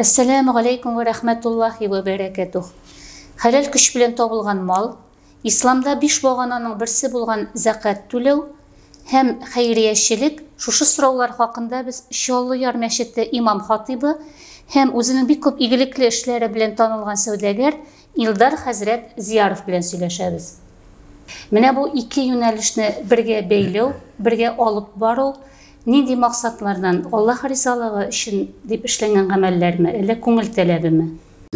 Әссәләмү галәйкүм вә рәхмәтуллаһи вә бәрәкәтүһ. Хәләл көч белән табылган мал, Исламда биш багананың берсе булган зәкәт түләү һәм хәйриячелек, шушы сораулар хакында без Чаллы-Яр мәчете имам-хатыйбы һәм үзенең бик күп игелекле эшләре белән танылган сәүдәгәр Илдар хәзрәт Зияров белән сөйләшәбез. Менә бу ике юнәлешне бергә бәйләү, бергә алып бару Нинди максатлардан? Аллаһ ризалыгы өчен дип эшләнгән гамәлләрме, әллә күңел теләгеме?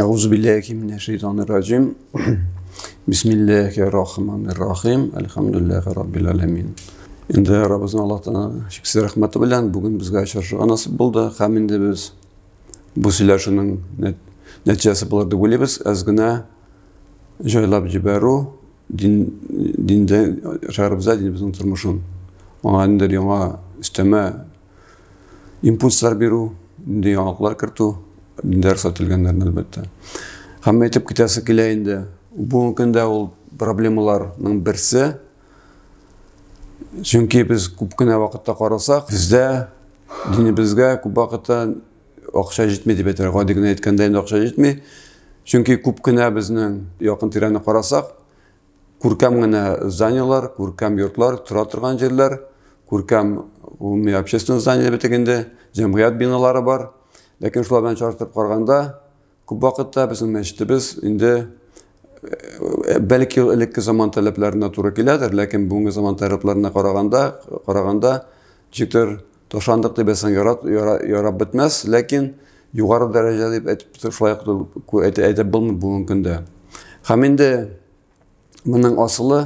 Әгъузубиллахи минәш-шәйтанир раҗим. Бисмиллахир рахманир рахим. Әлхәмдулиллахи раббил аламин. Инде Раббыбызның Аллаһтан чиксез рәхмәте белән бүген безгә очрашырга насыйп булды. Һәм инде без бу сөйләшүнең нәтиҗәсе булыр дип уйлыйбыз. Әз генә җайлап җибәрү Дин, диндә шәһәребездә динебезнең тормышын, аңа ниндидер яңа өстәмә импульслар бирү, нинди яңалыклар кертү, диндә рөхсәт ителгәннәрне, әлбәттә. Һәм әйтеп китәсе килә инде, бүгенге көндә ул проблемаларның берсе, чөнки без күп кенә вакытта карасак, бездә динебезгә күп вакытта Акча җитми дип әйтәләр. Гади генә әйткәндә инде акча җитми. Чөнки күп кенә безнең якын тирәне карасак, күркәм генә зданиеләр, күркәм йортлар, тора торган җирләр, күркәм гомуми общественный здание бетек инде, җәмгыять биналары бар. Ләкин шулар белән чагыштырып караганда, Күп вакытта безнең мәчетебез инде бәлки элекке заман таләпләренә туры киләдер, ләкин бүгенге заман таләпләренә караганда, караганда ничектер ташандык дип әсән ярап, ярап бетмәс, ләкин югары дәрәҗә дип әйтеп шулай әйтеп булмый бүгенге көндә. Һәм инде Моның асылы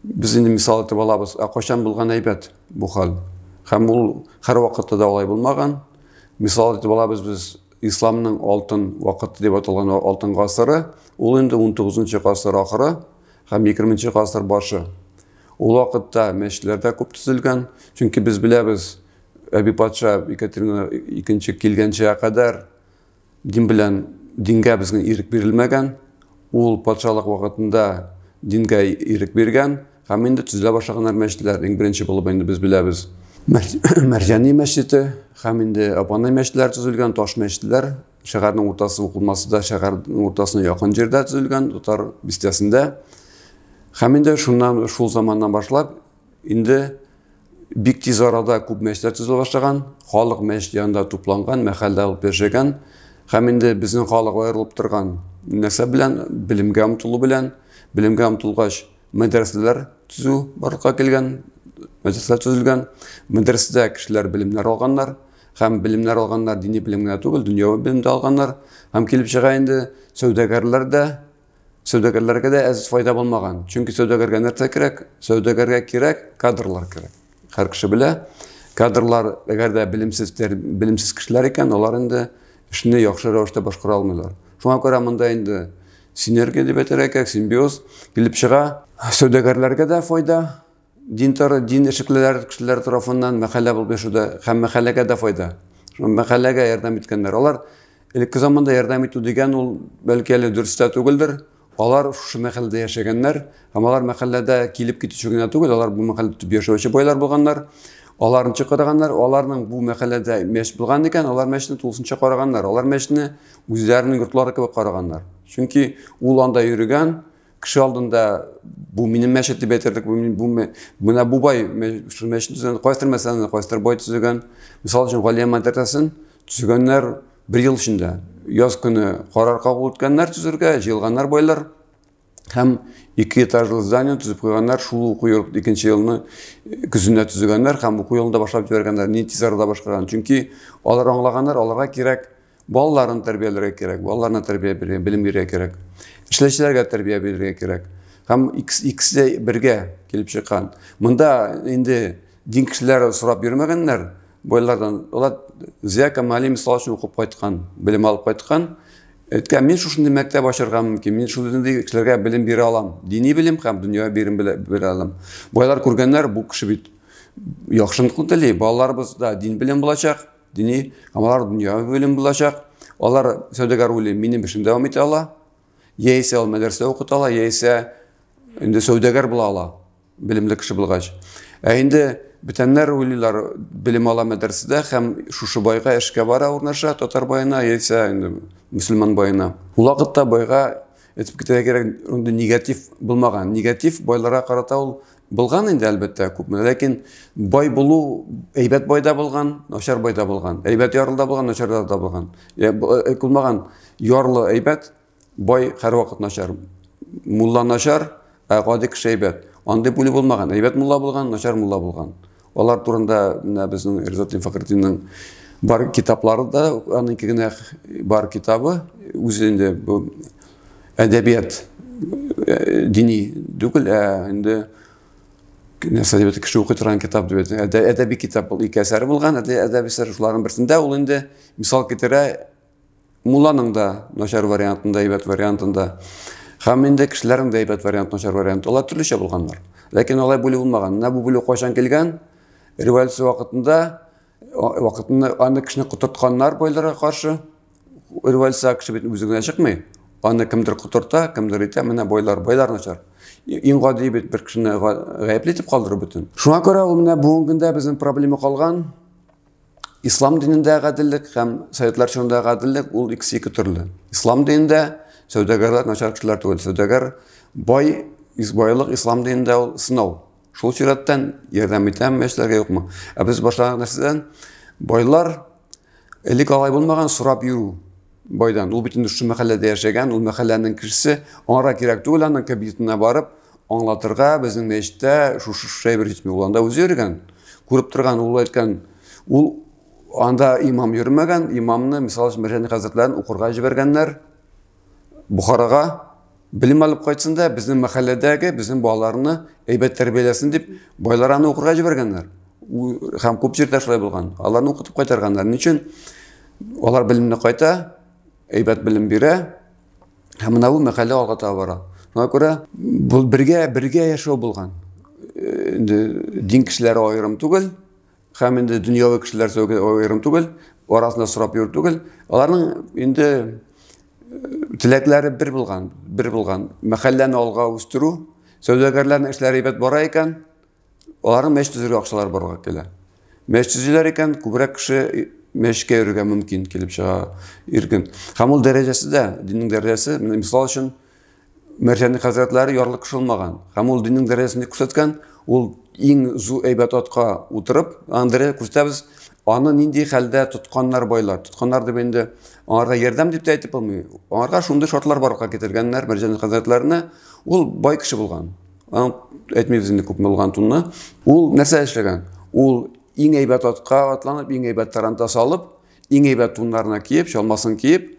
без инде мисал итеп алабыз, ә кайчан булган әйбәт бу хәл? Һәм ул һәрвакытта да алай булмаган. Мисал итеп алабыз без исламның алтын вакыты дип аталган алтын гасыры, ул инде 19-нчы гасыр ахыры һәм 20-нчы гасыр башы. Ул вакытта мәчетләр дә күп төзелгән, чөнки без беләбез, Әби патша Екатерина II килгәнчә кадәр Дин белән дингә безнең ирек бирелмәгән, ул патшалык вакытында дингә ирек биргән, һәм инде төзелә башлаганнар мәчетләр, иң беренче булып инде без беләбез. Мәрҗани мәчете һәм инде Апанай мәчетләре төзелгән, таш мәчетләр шәһәрнең уртасы укылмасы да шәһәрнең уртасына якын җирдә төзелгән, татар бистәсендә. Һәм инде шуннан, шул заманнан башлап, инде Бик тиз арада күп мәчетләр төзелә башлаган, халык мәчет янында тупланган, мәхәллә алып яшәгән һәм инде безнең халык аерылып торган нәрсә белән, белемгә омтылу белән, белемгә омтылгач, мәдрәсәләр төзү барлыкка килгән, мәдрәсәләр төзелгән, мәдрәсәдә кешеләр белемнәр алганнар һәм белемнәр алганнар дини белем генә түгел, дөньяви белем дә алганнар һәм килеп чыга инде сәүдәгәрләр дә Сәүдәгәрләргә дә әз файда булмаган. Чөнки сәүдәгәргә нәрсә кирәк? Сәүдәгәргә кирәк кадрлар кирәк. Һәр кеше белә, кадрлар, әгәр дә белемсез, белемсез кешеләр икән, алар инде эшне яхшы рәвештә башкара алмыйлар. Шуңа күрә монда инде синергия дип әйтергә кирәк, симбиоз килеп чыга. Сәүдәгәрләргә дә файда, Динтар, дин эшлеклеләр кешеләр тарафыннан мәхәллә булып яшәүдә һәм мәхәлләгә дә файда. Шул мәхәлләгә ярдәм иткәннәр. Алар элекке заманда ярдәм итү дигән ул бәлки әле дөрес тә түгелдер. Алар шушы мәхәлләдә яшәгәннәр һәм алар мәхәлләдә килеп китүче генә түгел, алар бу мәхәлләдә төп яшәүче байлар булганнар. Аларны чакырганнар, аларның бу мәхәлләдә мәч булган икән, алар мәчне тулысынча караганнар. Алар мәчне үзләренең йортлары кебек караганнар. Чөнки ул анда йөрегән, Кеше алдында бу минем мәчет дип әйтерлек, бу, бу, менә бу бай шул мәчет төзегән, кайсыдыр мәсьәләне кайсыдыр бай төзегән. Мисал өчен, Галия мәдрәсәсен төзегәннәр бер ел эчендә. Яз көне карар кабул иткәннәр төзергә, җыелганнар байлар һәм ике этажлы здание төзеп куйганнар шул уку йорт икенче елны э, көзендә төзегәннәр һәм уку елында башлап җибәргәннәр ни тиз арада башкарган чөнки алар аңлаганнар аларга кирәк Балаларын тәрбияләргә кирәк, балаларына тәрбия бирергә, белем бирергә кирәк. Эшләүчеләргә тәрбия бирергә кирәк. Һәм икесе бергә килеп чыккан. Монда инде дин кешеләре сорап йөрмәгәннәр байлардан. Алар Зия Камали мисал өчен укып кайткан, белем алып кайткан. Әйткән, мин шушындый мәктәп ачарга мөмкин, мин шушындый кешеләргә белем бирә алам. Дини белем һәм дөнья белем бирә алам. Байлар күргәннәр, бу кеше бит яхшылыкны тели, балаларыбызда дин белем булачак. Дини һәм дөнья белем булачак. Алар сәүдәгәр уйлый, минем эшем дәвам итә ала. Яисә ул мәдрәсә укыта ала, яисә инде сәүдәгәр була ала, белемле кеше булгач. Ә инде бөтенләр уйлыйлар, белем ала мәдрәсәдә һәм шушы байга эшкә бара урнаша, татар байына, яисә инде мөселман байына. Ул вакытта байга әйтеп китәргә кирәк, инде негатив булмаган. Негатив байларга карата ул Булган инде, әлбәттә, күпме. Ләкин бай булу, әйбәт бай да булган, начар бай да булган. Әйбәт ярлы да булган, начар да булган. Э, э, Кулмаган ярлы әйбәт, бай һәрвакыт начар. Мулла начар, ә гади кеше әйбәт. Андый бүлү булмаган. Әйбәт мулла булган, начар мулла булган. Алар турында менә безнең Ризатлин Фәхретдинның бар китаплары да, аның генә бар китабы, үзе инде бу әдәбият э, дини түгел, ә инде нәрсә дип кеше укый торган китап дип әйтә. Әдәби китап бул ике әсәр булган, әдәби әсәр шуларның берсендә ул инде мисал китерә Мулланың да начар вариантын да, әйбәт вариантын да, һәм инде кешеләрнең дә әйбәт варианты, начар варианты, алар төрлечә булганнар. Ләкин алай бүлү булмаган. Менә бу бүлү кайчан килгән? Революция вакытында вакытында аны кешене котыртканнар байларга каршы. Революция кеше бит үзе генә чыкмый. Аны кемдер котырта, кемдер итә, менә байлар, байлар начар. Иң гади бит бер кешене гаепле итеп калдыру бөтен. Шуңа күрә ул менә бүгенге көндә безнең проблема калган. Ислам динендә гаделлек һәм советлар чорында гаделлек ул икесе ике төрле. Ислам динендә сәүдәгәрләр начар кешеләр түгел. Сәүдәгәр бай, байлык ислам динендә ул сынау. Шул чираттан ярдәм итәме, яшьләргә юкмы? Ә без башланган нәрсәдән байлар элек алай булмаган сорап йөрү. Байдан. Ул бит инде шушы мәхәлләдә яшәгән, ул мәхәлләнең кешесе. Аңара кирәк түгел аның кабинетына барып, аңлатырга, безнең мәчеттә шушы шушы әйбер җитми. Ул анда үзе йөргән, күреп торган, ул әйткән, ул анда имам йөрмәгән, имамны, мисал өчен, Мәрҗани хәзрәтләрен укырга җибәргәннәр Бухарага. Белем алып кайтсын да, безнең мәхәлләдәге безнең балаларны әйбәт тәрбияләсен дип, байлар аны укырга җибәргәннәр. Һәм күп җирдә шулай булган. Аларны укытып кайтарганнар. Ни өчен? Алар белемне кайта, әйбәт белем бирә, һәм менә бу мәхәллә алга таба бара. Шуңа күрә бу бергә бергә яшәү булган. Инде дин кешеләре аерым түгел, Һәм инде дөньяви кешеләр аерым түгел, арасында сорап йөрү түгел. Аларның инде э, теләкләре бер булган, бер булган. Мәхәлләне алга үстерү, сәүдәгәрләрнең эшләре әйбәт бара икән, аларның мәш төзергә акчалар барга килә. Мәш төзиләр икән, күбрәк кеше э, мәшкә йөрергә мөмкин килеп чыга иркен. Һәм ул дәрәҗәсе дә, диннең дәрәҗәсе, мисал өчен, Мәрҗәнлек хәзрәтләре ярлы кеше булмаган һәм ул диннең дәрәҗәсен күрсәткән, ул иң зу әйбәт атка утырып, аны дәрәҗә күрсәтәбез, аны нинди хәлдә тотканнар байлар. Тотканнар дип инде аңарга ярдәм дип тә әйтеп булмый. Аңарга шундый шартлар барлыкка китергәннәр Мәрҗәнлек хәзрәтләренә. Ул бай кеше булган. Аны әйтмибез инде күпме булган тунны. Ул нәрсә эшләгән? Ул иң әйбәт атка атланып, иң әйбәт тарантас алып, иң әйбәт туннарына киеп, чалмасын киеп,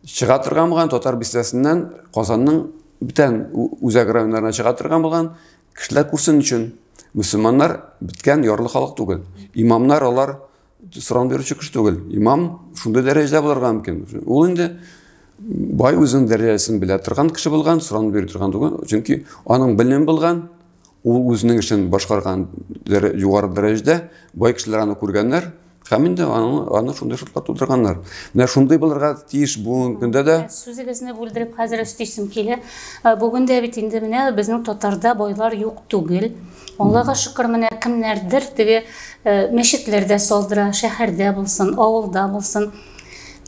чыга торган булган татар бистәсеннән Казанның бүтән үзәк районнарына чыга торган булган кешеләр күрсен өчен мөселманнар беткән ярлы халык түгел. Имамнар алар соран бирүче кеше түгел. Имам шундый дәрәҗәдә булырга мөмкин. Ул инде бай үзенең дәрәҗәсен белә торган кеше булган, соран бирү торган түгел. Чөнки аның белем булган, Ул үзенең эшен башкарган югары дәрәҗәдә бай кешеләр аны күргәннәр һәм инде аны, аны шундый шартлар тудырганнар. Менә шундый булырга тиеш бүгенге көндә дә. Сүзегезне бүлдереп хәзер өстисем килә. Э, бүген дә бит инде менә безнең татарда байлар юк түгел. Аллага шөкер, менә кемнәрдер теге э, мәчетләрдә салдыра, шәһәрдә булсын, авылда булсын.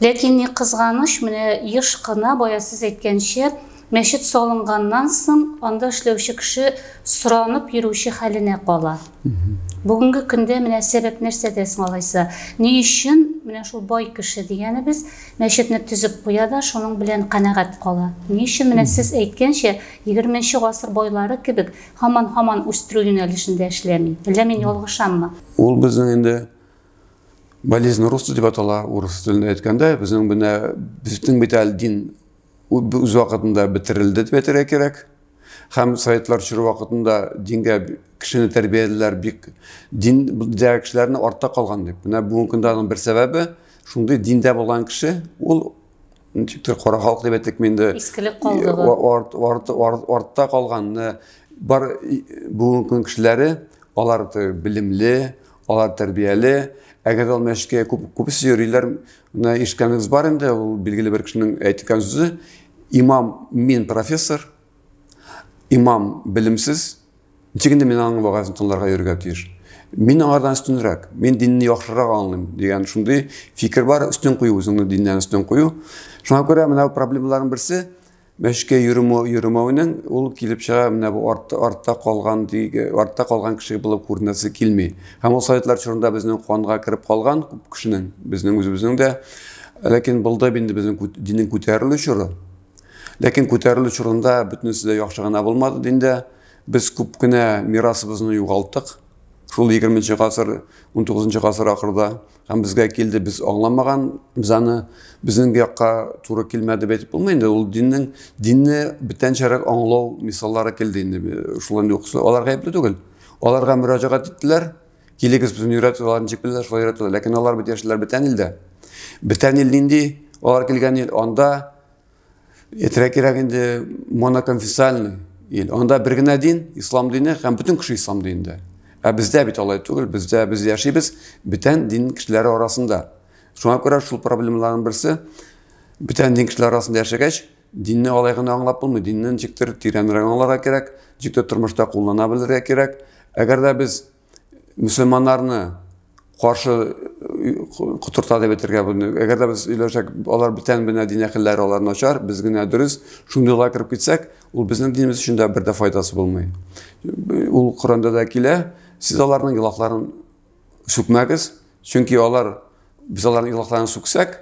Ләкин ни кызганыч, менә еш кына бая сез әйткәнчә, Мәчет салынганнан соң анда эшләүче кеше соранып йөрүче хәленә кала. Бүгенге көндә менә сәбәп нәрсәдә соң алайса? Ни өчен менә шул бай кеше дигәнебез мәчетне төзеп куя да шуның белән канәгать кала? Ни өчен менә сез әйткәнчә 20 гасыр байлары кебек һаман-һаман үстерү юнәлешендә эшләми? Әллә мин ялгышаммы? Ул безнең инде болезнь рус дип атала, урыс телендә әйткәндә, безнең менә безнең бит әле дин үз вакытында бетерелде дип әйтергә кирәк. Һәм советлар чоры вакытында дингә кешене тәрбияләделәр бик дин дә кешеләрне артта калган дип. Менә бүгенге көндә аның бер сәбәбе шундый диндә булган кеше ул ничектер кара халык дип әйтик инде. Искелек калдыгы. Арт, арт, арт, артта калган бар бүгенге көн кешеләре алар билемле, Алар тәрбияле, әгәр ул мәчеткә күп, күбесе йөриләр, менә ишеткәнегез бар инде, ул билгеле бер кешенең әйткән сүзе, имам мин профессор, имам белемсез, ничек инде мин аның вәгазен тыңларга йөрергә тиеш. Мин аңардан өстенрәк, мин динне яхшырак аңлыйм дигән шундый фикер бар, өстен кую үзеңне диннән өстен кую. Шуңа күрә менә проблемаларның берсе Мәчкә йөрү йөрүмәүнең ул килеп чыга менә бу артта артта калган диге артта калган кеше булып күренәсе килми. Һәм ул советлар чорында безнең канга кереп калган күп кешенең, безнең үзебезнең дә. Ләкин булды инде безнең диннең күтәрелү чоры. Ләкин күтәрелү чорында бөтенесе дә яхшы гына булмады диндә. Без күп кенә мирасыбызны югалттык. Шул 20 нчы гасыр, 19 нчы гасыр ахырда Һәм безгә килде, без аңламаган, без аны безнең якка туры килмәде дип әйтеп булмый инде. Ул диннең динне бүтәнчәрәк аңлау мисаллары килде инде. Шулай инде укысы. Алар гаепле түгел. Аларга мөрәҗәгать иттеләр. Килегез безне өйрәтү алар ничек беләләр, шулай өйрәтүләр. Ләкин алар бит яшьләр бүтән илдә. Бүтән ил нинди? Алар килгән ил анда Әйтергә кирәк инде, моноконфессиальный ил. Анда бер генә дин, ислам дине һәм бөтен кеше ислам динендә. Ә бездә бит алай түгел, бездә без яшибез бөтен дин кешеләре арасында. Шуңа күрә шул проблемаларның берсе бөтен дин кешеләре арасында яшәгәч, динне алай гына аңлап булмый, динне ничектер тирәнрәк аңларга кирәк, ничектер тормышта куллана белергә кирәк. Әгәр дә без мөселманнарны каршы котырта дип әйтергә буны. Әгәр дә без өйләшәк, алар бүтән бенә дин әхелләре алар начар, без генә дөрес, шундый лай кереп китсәк, ул безнең динебез өчен дә бер дә файдасы булмый. Ул Коранда да килә, сез аларның илаһларын сүкмәгез, чөнки алар без аларның илаһларын сүксәк,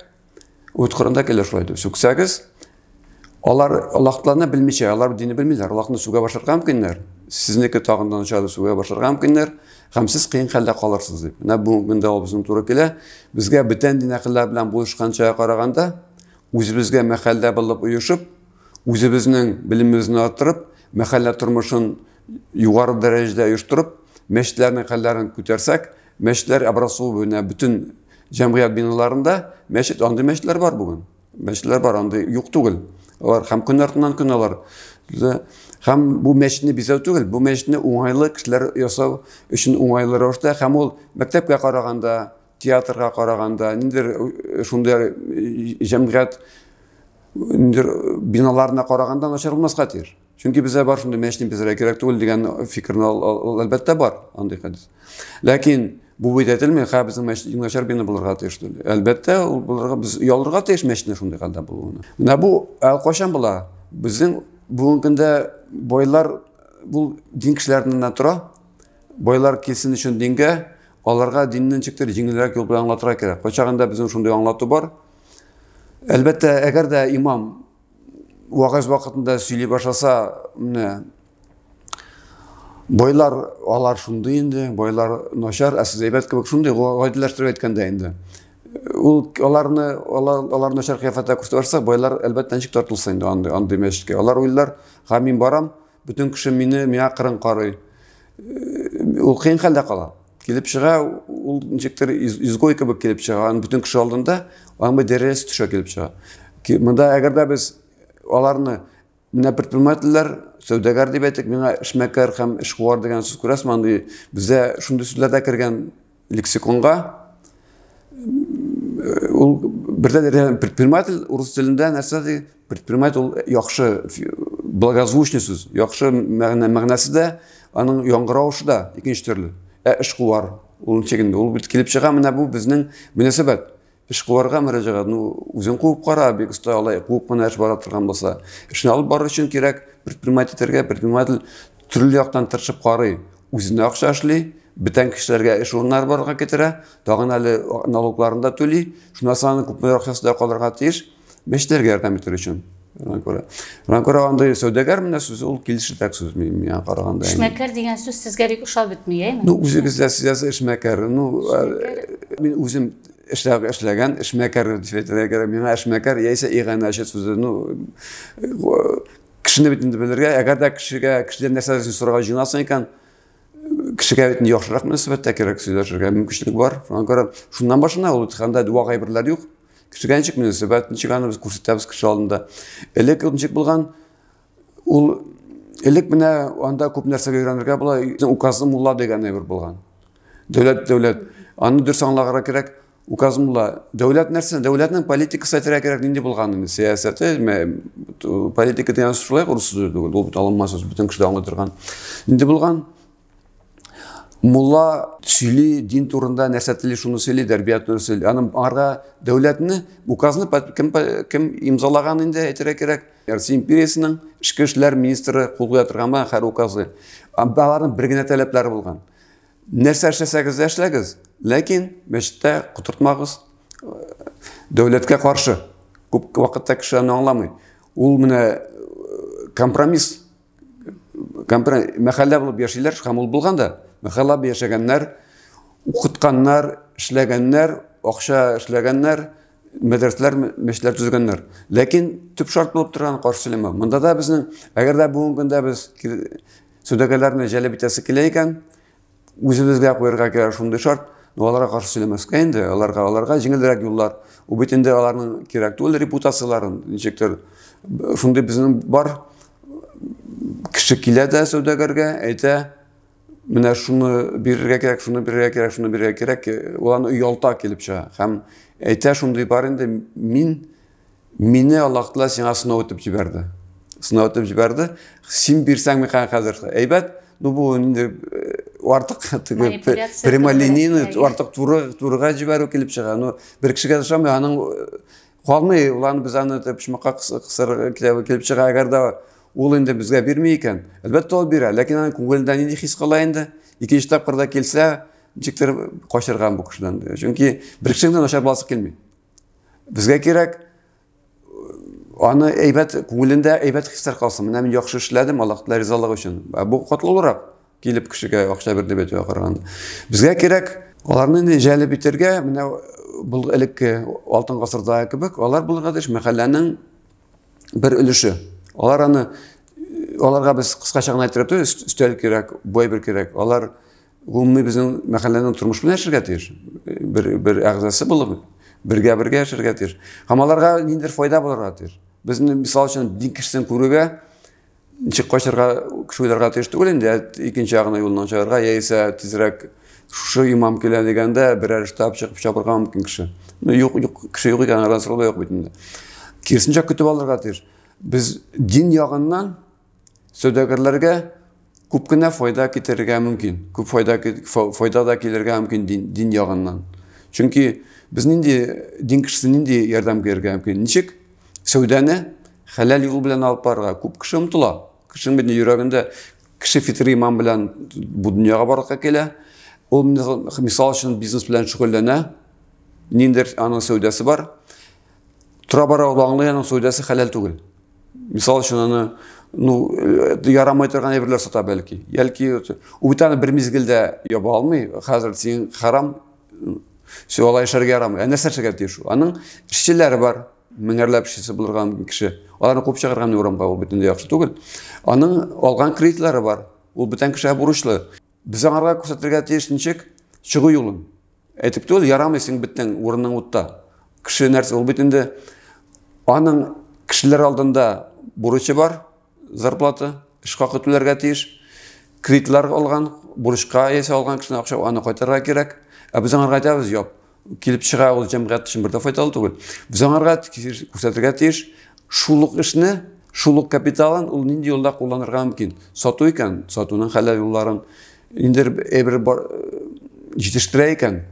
Үт кырында килер шулай итеп. Сүксәгез, алар Аллаһтарны белмичә, алар динне белмиләр. Аллаһны сүгә башларга мөмкиннәр. Сезнеке тагын да начар сүгә башларга мөмкиннәр. Һәм сез кыен хәлдә калырсыз дип. Менә бүгенге көндә ул безнең туры килә. Безгә бүтән дин әһелләре белән булышканча караганда, үзебезгә мәхәллә булып оешып, үзебезнең белемебезне арттырып, мәхәллә тормышын югары дәрәҗәдә оештырып, мәчетләрнең хәлләрен күтәрсәк, Мәчетләр образованиенә бөтен җәмгыять биналарында мәчет, андый мәчетләр бар бүген. Мәчетләр бар, андый юк түгел. Алар һәм көн артыннан көн алар. Һәм бу мәчетне бизәү түгел, бу мәчетне уңайлы кешеләр ясау өчен уңайлы рәвештә һәм ул мәктәпкә караганда, театрга караганда, ниндер э, шундый э, җәмгыять ниндер э, биналарына караганда начар булмаска тиеш. Чөнки безгә бар шундый мәчни безгә кирәк түгел дигән фикерне әлбәттә бар андый хәдис. Ләкин бу бит әйтелми, хә безнең мәчет иң начар бина булырга тиеш диде. Әлбәттә, ул булырга без ялырга тиеш мәчетне шундый хәлдә булуына. Менә бу кайчан була? Безнең бүгенге көндә байлар бу дин кешеләреннән тора. Байлар килсен өчен дингә, аларга диннен чиктер җиңелрәк юл белән аңлатырга кирәк. Кайчагында безнең шундый аңлату бар. Әлбәттә, әгәр дә имам вагыз вакытында сөйли башласа, менә байлар алар шундый инде, байлар начар, ә сез әйбәт кебек шундый, гадиләштереп әйткәндә инде. Ул аларны алар, алар начар кыяфәттә күрсәтә башласа, байлар әлбәттә ничек тартылса инде андый андый мәчеткә. Алар уйлар, һәм мин барам, Бөтен кеше мине миңа кырын карый. Ул кыен хәлдә кала. Килеп чыга, ул ничектер изгой кебек килеп чыга. Аны бөтен кеше алдында аңбы дәрес төшә килеп чыга. Монда әгәр дә без аларны менә предпринимательләр, сәүдәгәр дип әйтик, миңа эшмәкәр һәм эшкуар дигән сүз күрәсме, андый бездә шундый сүзләр дә кергән Лексиконга ул бердән предприниматель урыс телендә нәрсә ди? Предприниматель ул яхшы благозвучный сүз, яхшы мәгънә мәгънәсе дә, аның яңгыравышы да икенче төрле. Ә эшкуар ул ничек инде? Ул бит килеп чыга, менә бу безнең мөнәсәбәт. Эшкуарга мөрәҗәгать, ну, үзең куып кара, бик оста алай, куып кына эш бара торган булса. Эшне алып барыр өчен кирәк, предприниматель итәргә, предприниматель төрле яктан тырышып карый. Үзенә акча эшли, бетән кешеләргә эш урыннары барлыкка китерә, тагын әле налогларын да түли, шуннан соң аның күпмедер акчасы да калырга тиеш. Мәчетләргә ярдәм итер өчен. Ранкора. Ранкора андый сәүдәгәр менә сүз ул килешердәк сүз миңа караганда. Эшмәкәр дигән сүз сезгә бик ошап бетми, әйме? Ну, үзегез дә сез эшмәкәр. Ну, мин үзем эшләп эшләгән эшмәкәр дип әйтергә кирәк. Миңа эшмәкәр яисә иганәче сүзе, ну, кешене бит инде белергә, әгәр дә кешегә, кешедән нәрсәдер сорарга җыенасың икән, кешегә бит яхшырак мөнәсәбәттә кирәк сөйләшергә мөмкинчелек бар. Шуңа күрә шуннан башына ул һәм дә дәва гайберләр юк. Кешегә ничек мөнәсәбәт, ничек аны без күрсәтәбез кеше алдында. Элек ничек булган, ул элек менә анда күп нәрсәгә өйрәнергә була, указлы мулла дигән әйбер булган. Дәүләт, дәүләт. Аны дөрес аңлагыра кирәк. Указлы мулла. Дәүләт нәрсә? Дәүләтнең политикасы әйтергә кирәк, нинди булган инде сәясәте, политика дигән шулай урыс сүзе түгел, ул бит алынма сүз, бөтен кеше дә аңлый торган. Нинди булган? мулла сөйли дин турында нәрсә тели шуны сөйли тәрбият турында сөйли аны аңарга дәүләтне указны кем, кем имзалаган инде әйтергә кирәк россия империясының ішкі эшләр министры кул куя торган ма һәр указы аларның бер генә таләпләре булган нәрсә эшләсәгез дә эшләгез ләкин мәчеттә котыртмагыз дәүләткә каршы күп вакытта кеше аны аңламый ул менә компромисс мәхәллә булып яшиләр һәм ул булган да мәхәллә булып яшәгәннәр укытканнар эшләгәннәр акча эшләгәннәр мәдрәсәләр мәчетләр төзегәннәр ләкин төп шарт булып торган каршы сөйләмәү монда да безнең әгәр дә бүгенге көндә без сәүдәгәрләрне җәлеп итәсе килә икән үзебезгә куярга кирәк шундый шарт, но аларга каршы сөйләмәскә инде, аларга аларга җиңелрәк юллар. Ул бит инде аларның кирәк түгел репутацияләрен, ничектер шундый безнең бар кеше килә дә сәүдәгәргә, әйтә, менә шуны бирергә кирәк, шуны бирергә кирәк, шуны бирергә кирәк, ул аны оялта килеп чыга. Һәм әйтә шундый бар инде, мин Мине Аллаһ Тәгалә сиңа сынау итеп җибәрде. Сынау итеп җибәрде. Син бирсәң микән хәзер? Әйбәт. Ну бу инде э, артык теге прямолинейный, артык туры турыга җибәрү килеп чыга. Ну бер кешегә ошамый, аның э, калмый, улан без аны почмакка кысырга килеп чыга. Әгәр дә ул инде безгә бирми икән, әлбәттә ул бирә, ләкин аның күңелендә нинди хис кала инде? Икенче тапкырда килсә, ничектер качырган бу кешедән. Чөнки бер кешенең дә начар буласы килми. Безгә кирәк аны әйбәт күңелендә әйбәт хисләр калсын. Менә мин яхшы эшләдем, Аллаһ Тәгалә ризалыгы өчен. Ә бу катлаулырак килеп кешегә акча бирде бит караганда. Безгә кирәк аларны инде җәлеп итәргә, менә бу элекке алтын гасырда кебек, алар булырга тиеш мәхәлләнең бер өлеше. Алар аны аларга без кыскача гына әйтергә өстәл кирәк, бу әйбер кирәк. Алар Гомуми безнең мәхәлләнең тормыш белән яшәргә тиеш. Бер бер әгъзасы булып, бергә бергә яшәргә тиеш. Һәм аларга ниндидер файда булырга тиеш. Безне мисал өчен дин кешесен күрүгә ничек качарга кеше уйларга тиеш түгел инде, икенче ягына юлыннан чыгарга, яисә тизрәк шушы имам килә дигәндә берәр штаб чыгып чабырга мөмкин кеше. Ну юк, юк, кеше юк икән, арада сорау да юк бит инде. Киресенчә көтеп алырга тиеш. Без дин ягыннан Сәүдәгәрләргә күп кенә файда китерергә мөмкин. Күп файда, файда да килергә мөмкин дин, дин ягыннан. Чөнки без нинди дин кешесе нинди ярдәм бирергә мөмкин? Ничек сәүдәне хәләл юл белән алып барырга? Күп кеше омтыла. Кешенең бит йөрәгендә кеше фитри иман белән бу дөньяга барлыкка килә. Ул мисал өчен бизнес белән шөгыльләнә. Ниндер аның сәүдәсе бар. Тора-бара ул аңлый аның сәүдәсе хәләл түгел. Мисал өчен аны ну э, ярамай торган әйберләр сата бәлки. Яки ул бит аны бер мизгелдә яба алмый. Хәзер син харам все алай эшләргә ярамый. Ә нәрсә эшләргә тиеш ул? Аның эшчеләре бар. Меңәрләп эшчесе булырга мөмкин кеше. Аларны куып чыгарган урамга ул бөтенләй яхшы түгел. Аның алган кредитлары бар. Ул бүтән кешегә бурычлы. Без аңарга күрсәтергә тиеш ничек чыгу юлын. Әйтеп түгел, ярамыйсың беттең, урының утта. Кеше нәрсә ул бит инде аның кешеләр алдында бурычы бар, зарплата, эш хакы түләргә тиеш. Кредитлар алган, бурычка ясап алган кешенең акча аны кайтарырга кирәк. Ә без аңарга әйтәбез, юк, килеп чыга ул җәмгыять өчен бер дә файдалы түгел. Без аңарга күрсәтергә тиеш, шул ук эшне, шул ук капиталын ул нинди юлда кулланырга мөмкин. Сату икән, сатуның хәләл юлларын, Инде әйбер бар җитештерә икән,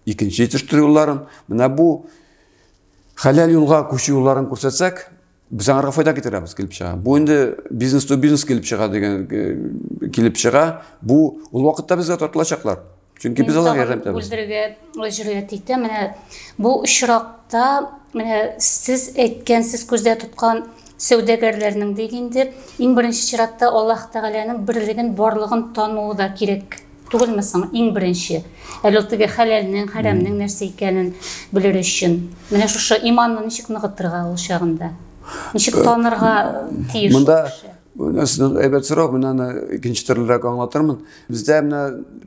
икенче җитештерү юлларын, менә бу хәләл юлга күчү юлларын күрсәтсәк, без аңарга файда китерәбез килеп чыга. Бу инде бизнес ту бизнес килеп чыга дигән э, килеп чыга. Бу ул вакытта безгә тартылачаклар. Чөнки без аларга ярдәм итәбез. Бүлдерергә җөрьәт итә. Менә бу очракта менә сез әйткән, сез күздә тоткан Сәүдәгәрләрнең дик инде иң беренче чиратта Аллаһ Тәгаләнең берлеген, барлыгын тануы да кирәк түгелме соң? Иң беренче. Әле ул теге хәләлнең, хәрәмнең нәрсә икәнен белер өчен. Менә шушы иманны ничек ныгытырга ул чагында? Ничек э, танырга тиеш? Монда нәрсәнең әйбәт сорау, мин аны икенче төрлерәк аңлатырмын. Бездә менә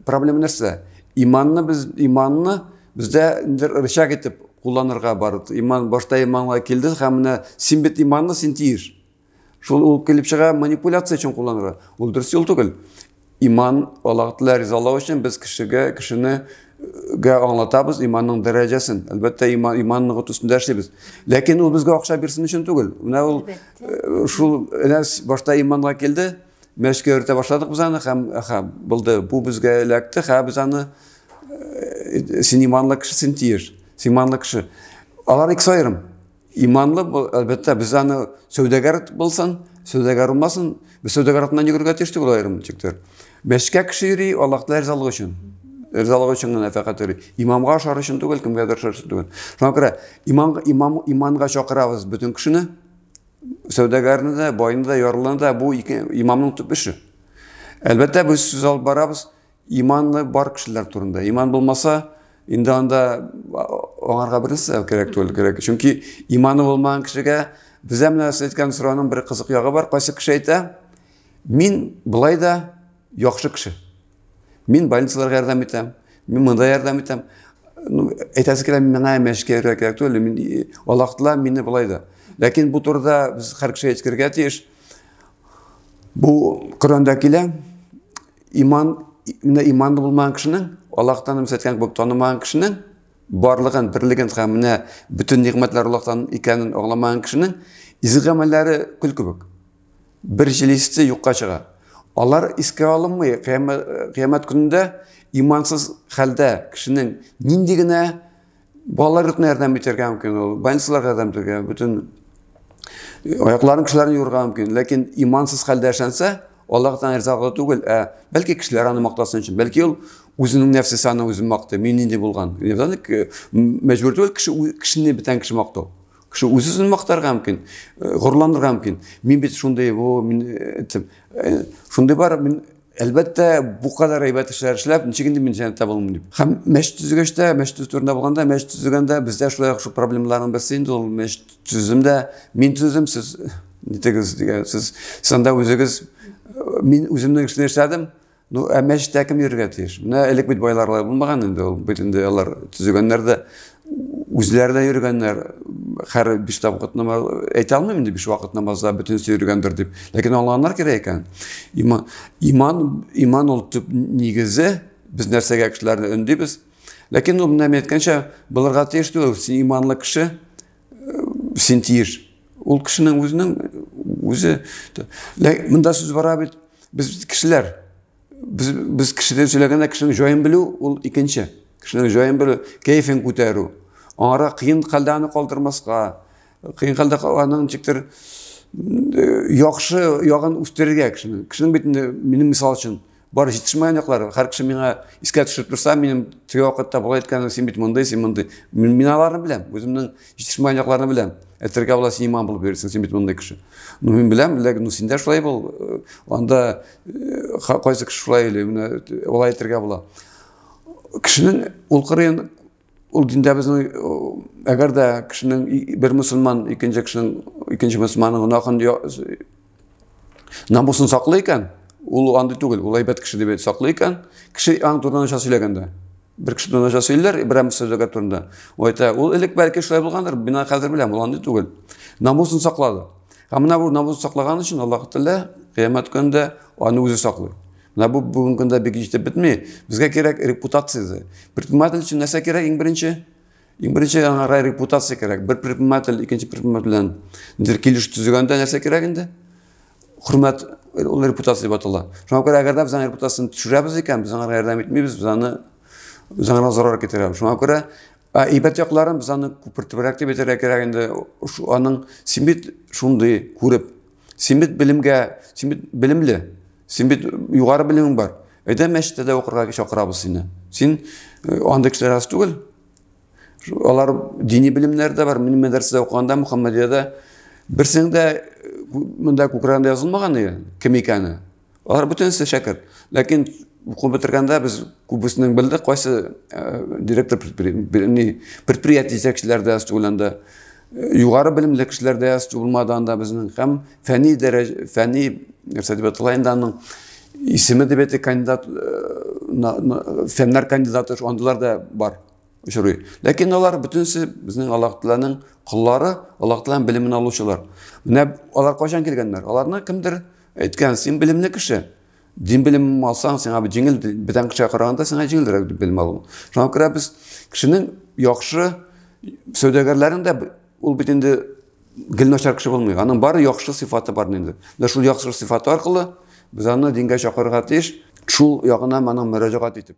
проблема нәрсә? Иманны без иманны Бездә инде рычаг итеп кулланырга бар. Иман башта иманга килде һәм менә син бит иманлы, син тиеш. Шул ул килеп чыга манипуляция өчен кулланырга. Ул дөрес юл түгел. Иман Аллаһ Тәгалә ризалау өчен без кешегә, кешене гә аңлатабыз иманның дәрәҗәсен. Әлбәттә, иман иман ныгыту өстендә эшлибез. Ләкин ул безгә акча бирсен өчен түгел. Менә ул э, шул әнә башта иманга килде, Мәскәү йөртә башладык без аны һәм ха булды. Бу безгә эләкте, һә без аны э, син иманлы кеше, син тиеш. Син иманлы кеше. Алар икесе аерым. Иманлы, әлбәттә, без аны сәүдәгәр булсын, сәүдәгәр булмасын, без сәүдәгәр атынан йөгергә тиеш түгел аерым тиктер. Мәскәү кеше йөри, Аллаһтан ризалык өчен. Ризалык өчен генә фәкать йөри. Имамга ошар өчен түгел, кемгә дә ошар өчен түгел. Шуңа күрә иман, имам, иманга чакырабыз бөтен кешене, сәүдәгәрне дә, байны да, ярлыны да бу ике имамның төп эше. Әлбәттә, без сүз алып барабыз иманы бар кешеләр турында. Иман булмаса, инде анда аңарга бернәрсә кирәк түгел кирәк. Чөнки иманы булмаган кешегә безә менә сез әйткән сораның бер кызык ягы бар. Кайсы кеше әйтә, мин былай да Яхшы кеше. Мин больницаларга ярдәм итәм, мин монда ярдәм итәм. Ну, әйтәсе килә, миңа мәшкә йөрергә кирәк түгел, мин э, алактыла мине болай да. Ләкин бу турыда без һәр кеше әйткергә тиеш. Бу Коранда килә, иман, менә иманлы булмаган кешенең, Аллаһтан үмс әйткән кебек танымаган кешенең барлыгын, берлеген һәм менә бөтен нигъмәтләр Аллаһтан икәнен аңламаган кешенең изге гамәлләре көл кебек. Бер җилисе юкка чыга. Алар искә алынмый. Кыямәт көнендә имансыз хәлдә кешенең нинди генә балалар йортына ярдәм итәргә мөмкин ул, больницаларга ярдәм итәргә, бөтен аякларын кешеләрен юрга мөмкин. Ләкин имансыз хәлдә эшләнсә, Аллаһ тән ризаглы түгел, ә бәлки кешеләр аны мактасын өчен, бәлки ул үзенең нәфсесе аны үзен мактый, мин нинди булган. Мәҗбүр түгел кеше кешене бетән кеше мактау. Кеше үз-үзен мактарга мөмкин, э, горурланырга мөмкин. Мин бит шундый, о, мин әйтсәм, э, э, шундый бар, мин әлбәттә бу кадәр әйбәт эшләр эшләп, ничек инде мин җәнәттә булам дип. Һәм мәчет төзегәч тә, мәчет төзү турында булганда, мәчет төзегәндә бездә шулай шул проблемаларның берсе инде ул мәчет төзүдә мин төзедем, сез нитегез дигән, сез санда үзегез мин үземнең эшне эшләдем, Ну, ә мәчеттә кем йөрергә тиеш? Менә элек бит байларлар булмаган инде ул. Бит инде алар төзегәннәр дә, үзләре дә йөргәннәр. Хәр биш вакыт намаз әйтә алмыйм инде биш вакыт намазда бөтенесе йөргәндер дип. Ләкин аңлаганнар кирәк икән. Иман, иман, иман ул төп нигезе. Без нәрсәгә кешеләрне өндибез? Ләкин ул менә әйткәнчә, булырга тиеш түгел. Син иманлы кеше, син тиеш ул кешенең үзенең үзе мында сүз бара бит без кешеләр без без кешедән сөйләгәндә кешенең җаен белү ул икенче кешенең җаен белү кәефен күтәрү аңара кыен хәлдә аны калдырмаска кыен хәлдә аның ничектер яхшы ягын үстерергә кешенең кешенең бит инде минем мисал өчен Бар җитешмәгән яклар, һәр кеше миңа искә төшереп торса, минем теге вакытта болай әйткәнем, син бит мондый, син мондый. Мин, мин аларны беләм, үземнең җитешмәгән якларны беләм. Әйтергә була, син иман булып йөрисең, син бит мондый кеше. Ну, мин беләм, ләкин ну, син дә шулай бул. Э, анда э, кайсы кеше шулай или, менә э, алай әйтергә була. Кешенең ул кырын Ул диндә безнең әгәр дә кешенең бер мусульман икенче кешенең икенче мусульманның гөнаһын намусын саклый икән, ул андый түгел, ул әйбәт кеше дип саклый икән, кеше аң турында начар сөйләгәндә. Бер кеше турында начар сөйлиләр, Ибраһим Сәүдәгәр турында. Ул әйтә, ул элек бәлки шулай булгандыр, мин аны хәзер беләм, ул андый түгел. Намусын саклады. Һәм менә бу намусын саклаган өчен Аллаһ Тәгалә кыямәт көнендә аны үзе саклый. Менә бу бүгенге көндә бик җитеп бетми. Безгә кирәк репутация. Предприниматель өчен нәрсә кирәк иң беренче? Иң беренче аңа репутация кирәк. Бер предприниматель икенче предприниматель белән нидер килеш төзегәндә нәрсә кирәк инде? Хөрмәт ул репутация дип атала. Шуңа күрә әгәр дә без аның репутациясен төшерәбез икән, без аңа ярдәм итмибез, без аны без аңа зарар китерәбез. Шуңа күрә әйбәт якларын без аны күпертебрәк дип әйтергә кирәк инде. Аның син бит шундый күреп Син бит белемгә, син бит белемле. Син бит югары белемең бар. Әйдә мәчеттә дә укырга чакырабыз сине. Син э, андый кешеләр аз түгел. Алар дини белемнәр дә бар. Мин мәдрәсәдә укыганда Мөхәммәдиядә берсең дә э, монда күкрәгендә язылмаган иде, кем икәне. Алар бөтенесе шәкерт. Ләкин уку бетергәндә без күбесенең белдек, кайсы э, директор предприятие җитәкчеләре дә студентларда э, югары белемле кешеләр дә студентларда анда безнең һәм фәнни дәрәҗә фәнни нәрсә дип аталайнданың исеме дип әйтә кандидат э, фәннәр кандидаты андылар да бар очрый. Ләкин алар бөтенесе безнең Аллаһ Тәгаләнең коллары, Аллаһ Тәгаләнең белемен алучылар. Менә алар кайчан килгәннәр? Аларны кемдер Әйткән, син белемле кеше. Дин белемем алсаң, сиңа бит җиңел, бүтән кешегә караганда сиңа җиңелрәк дип белем алу. Шуңа күрә без кешенең яхшы сәүдәгәрләрен дә ул бит инде гел начар кеше булмый. Аның бары яхшы сыйфаты бар инде. Менә шул яхшы сыйфаты аркылы без аны дингә чакырырга тиеш. Шул ягына моның мөрәҗәгать итеп.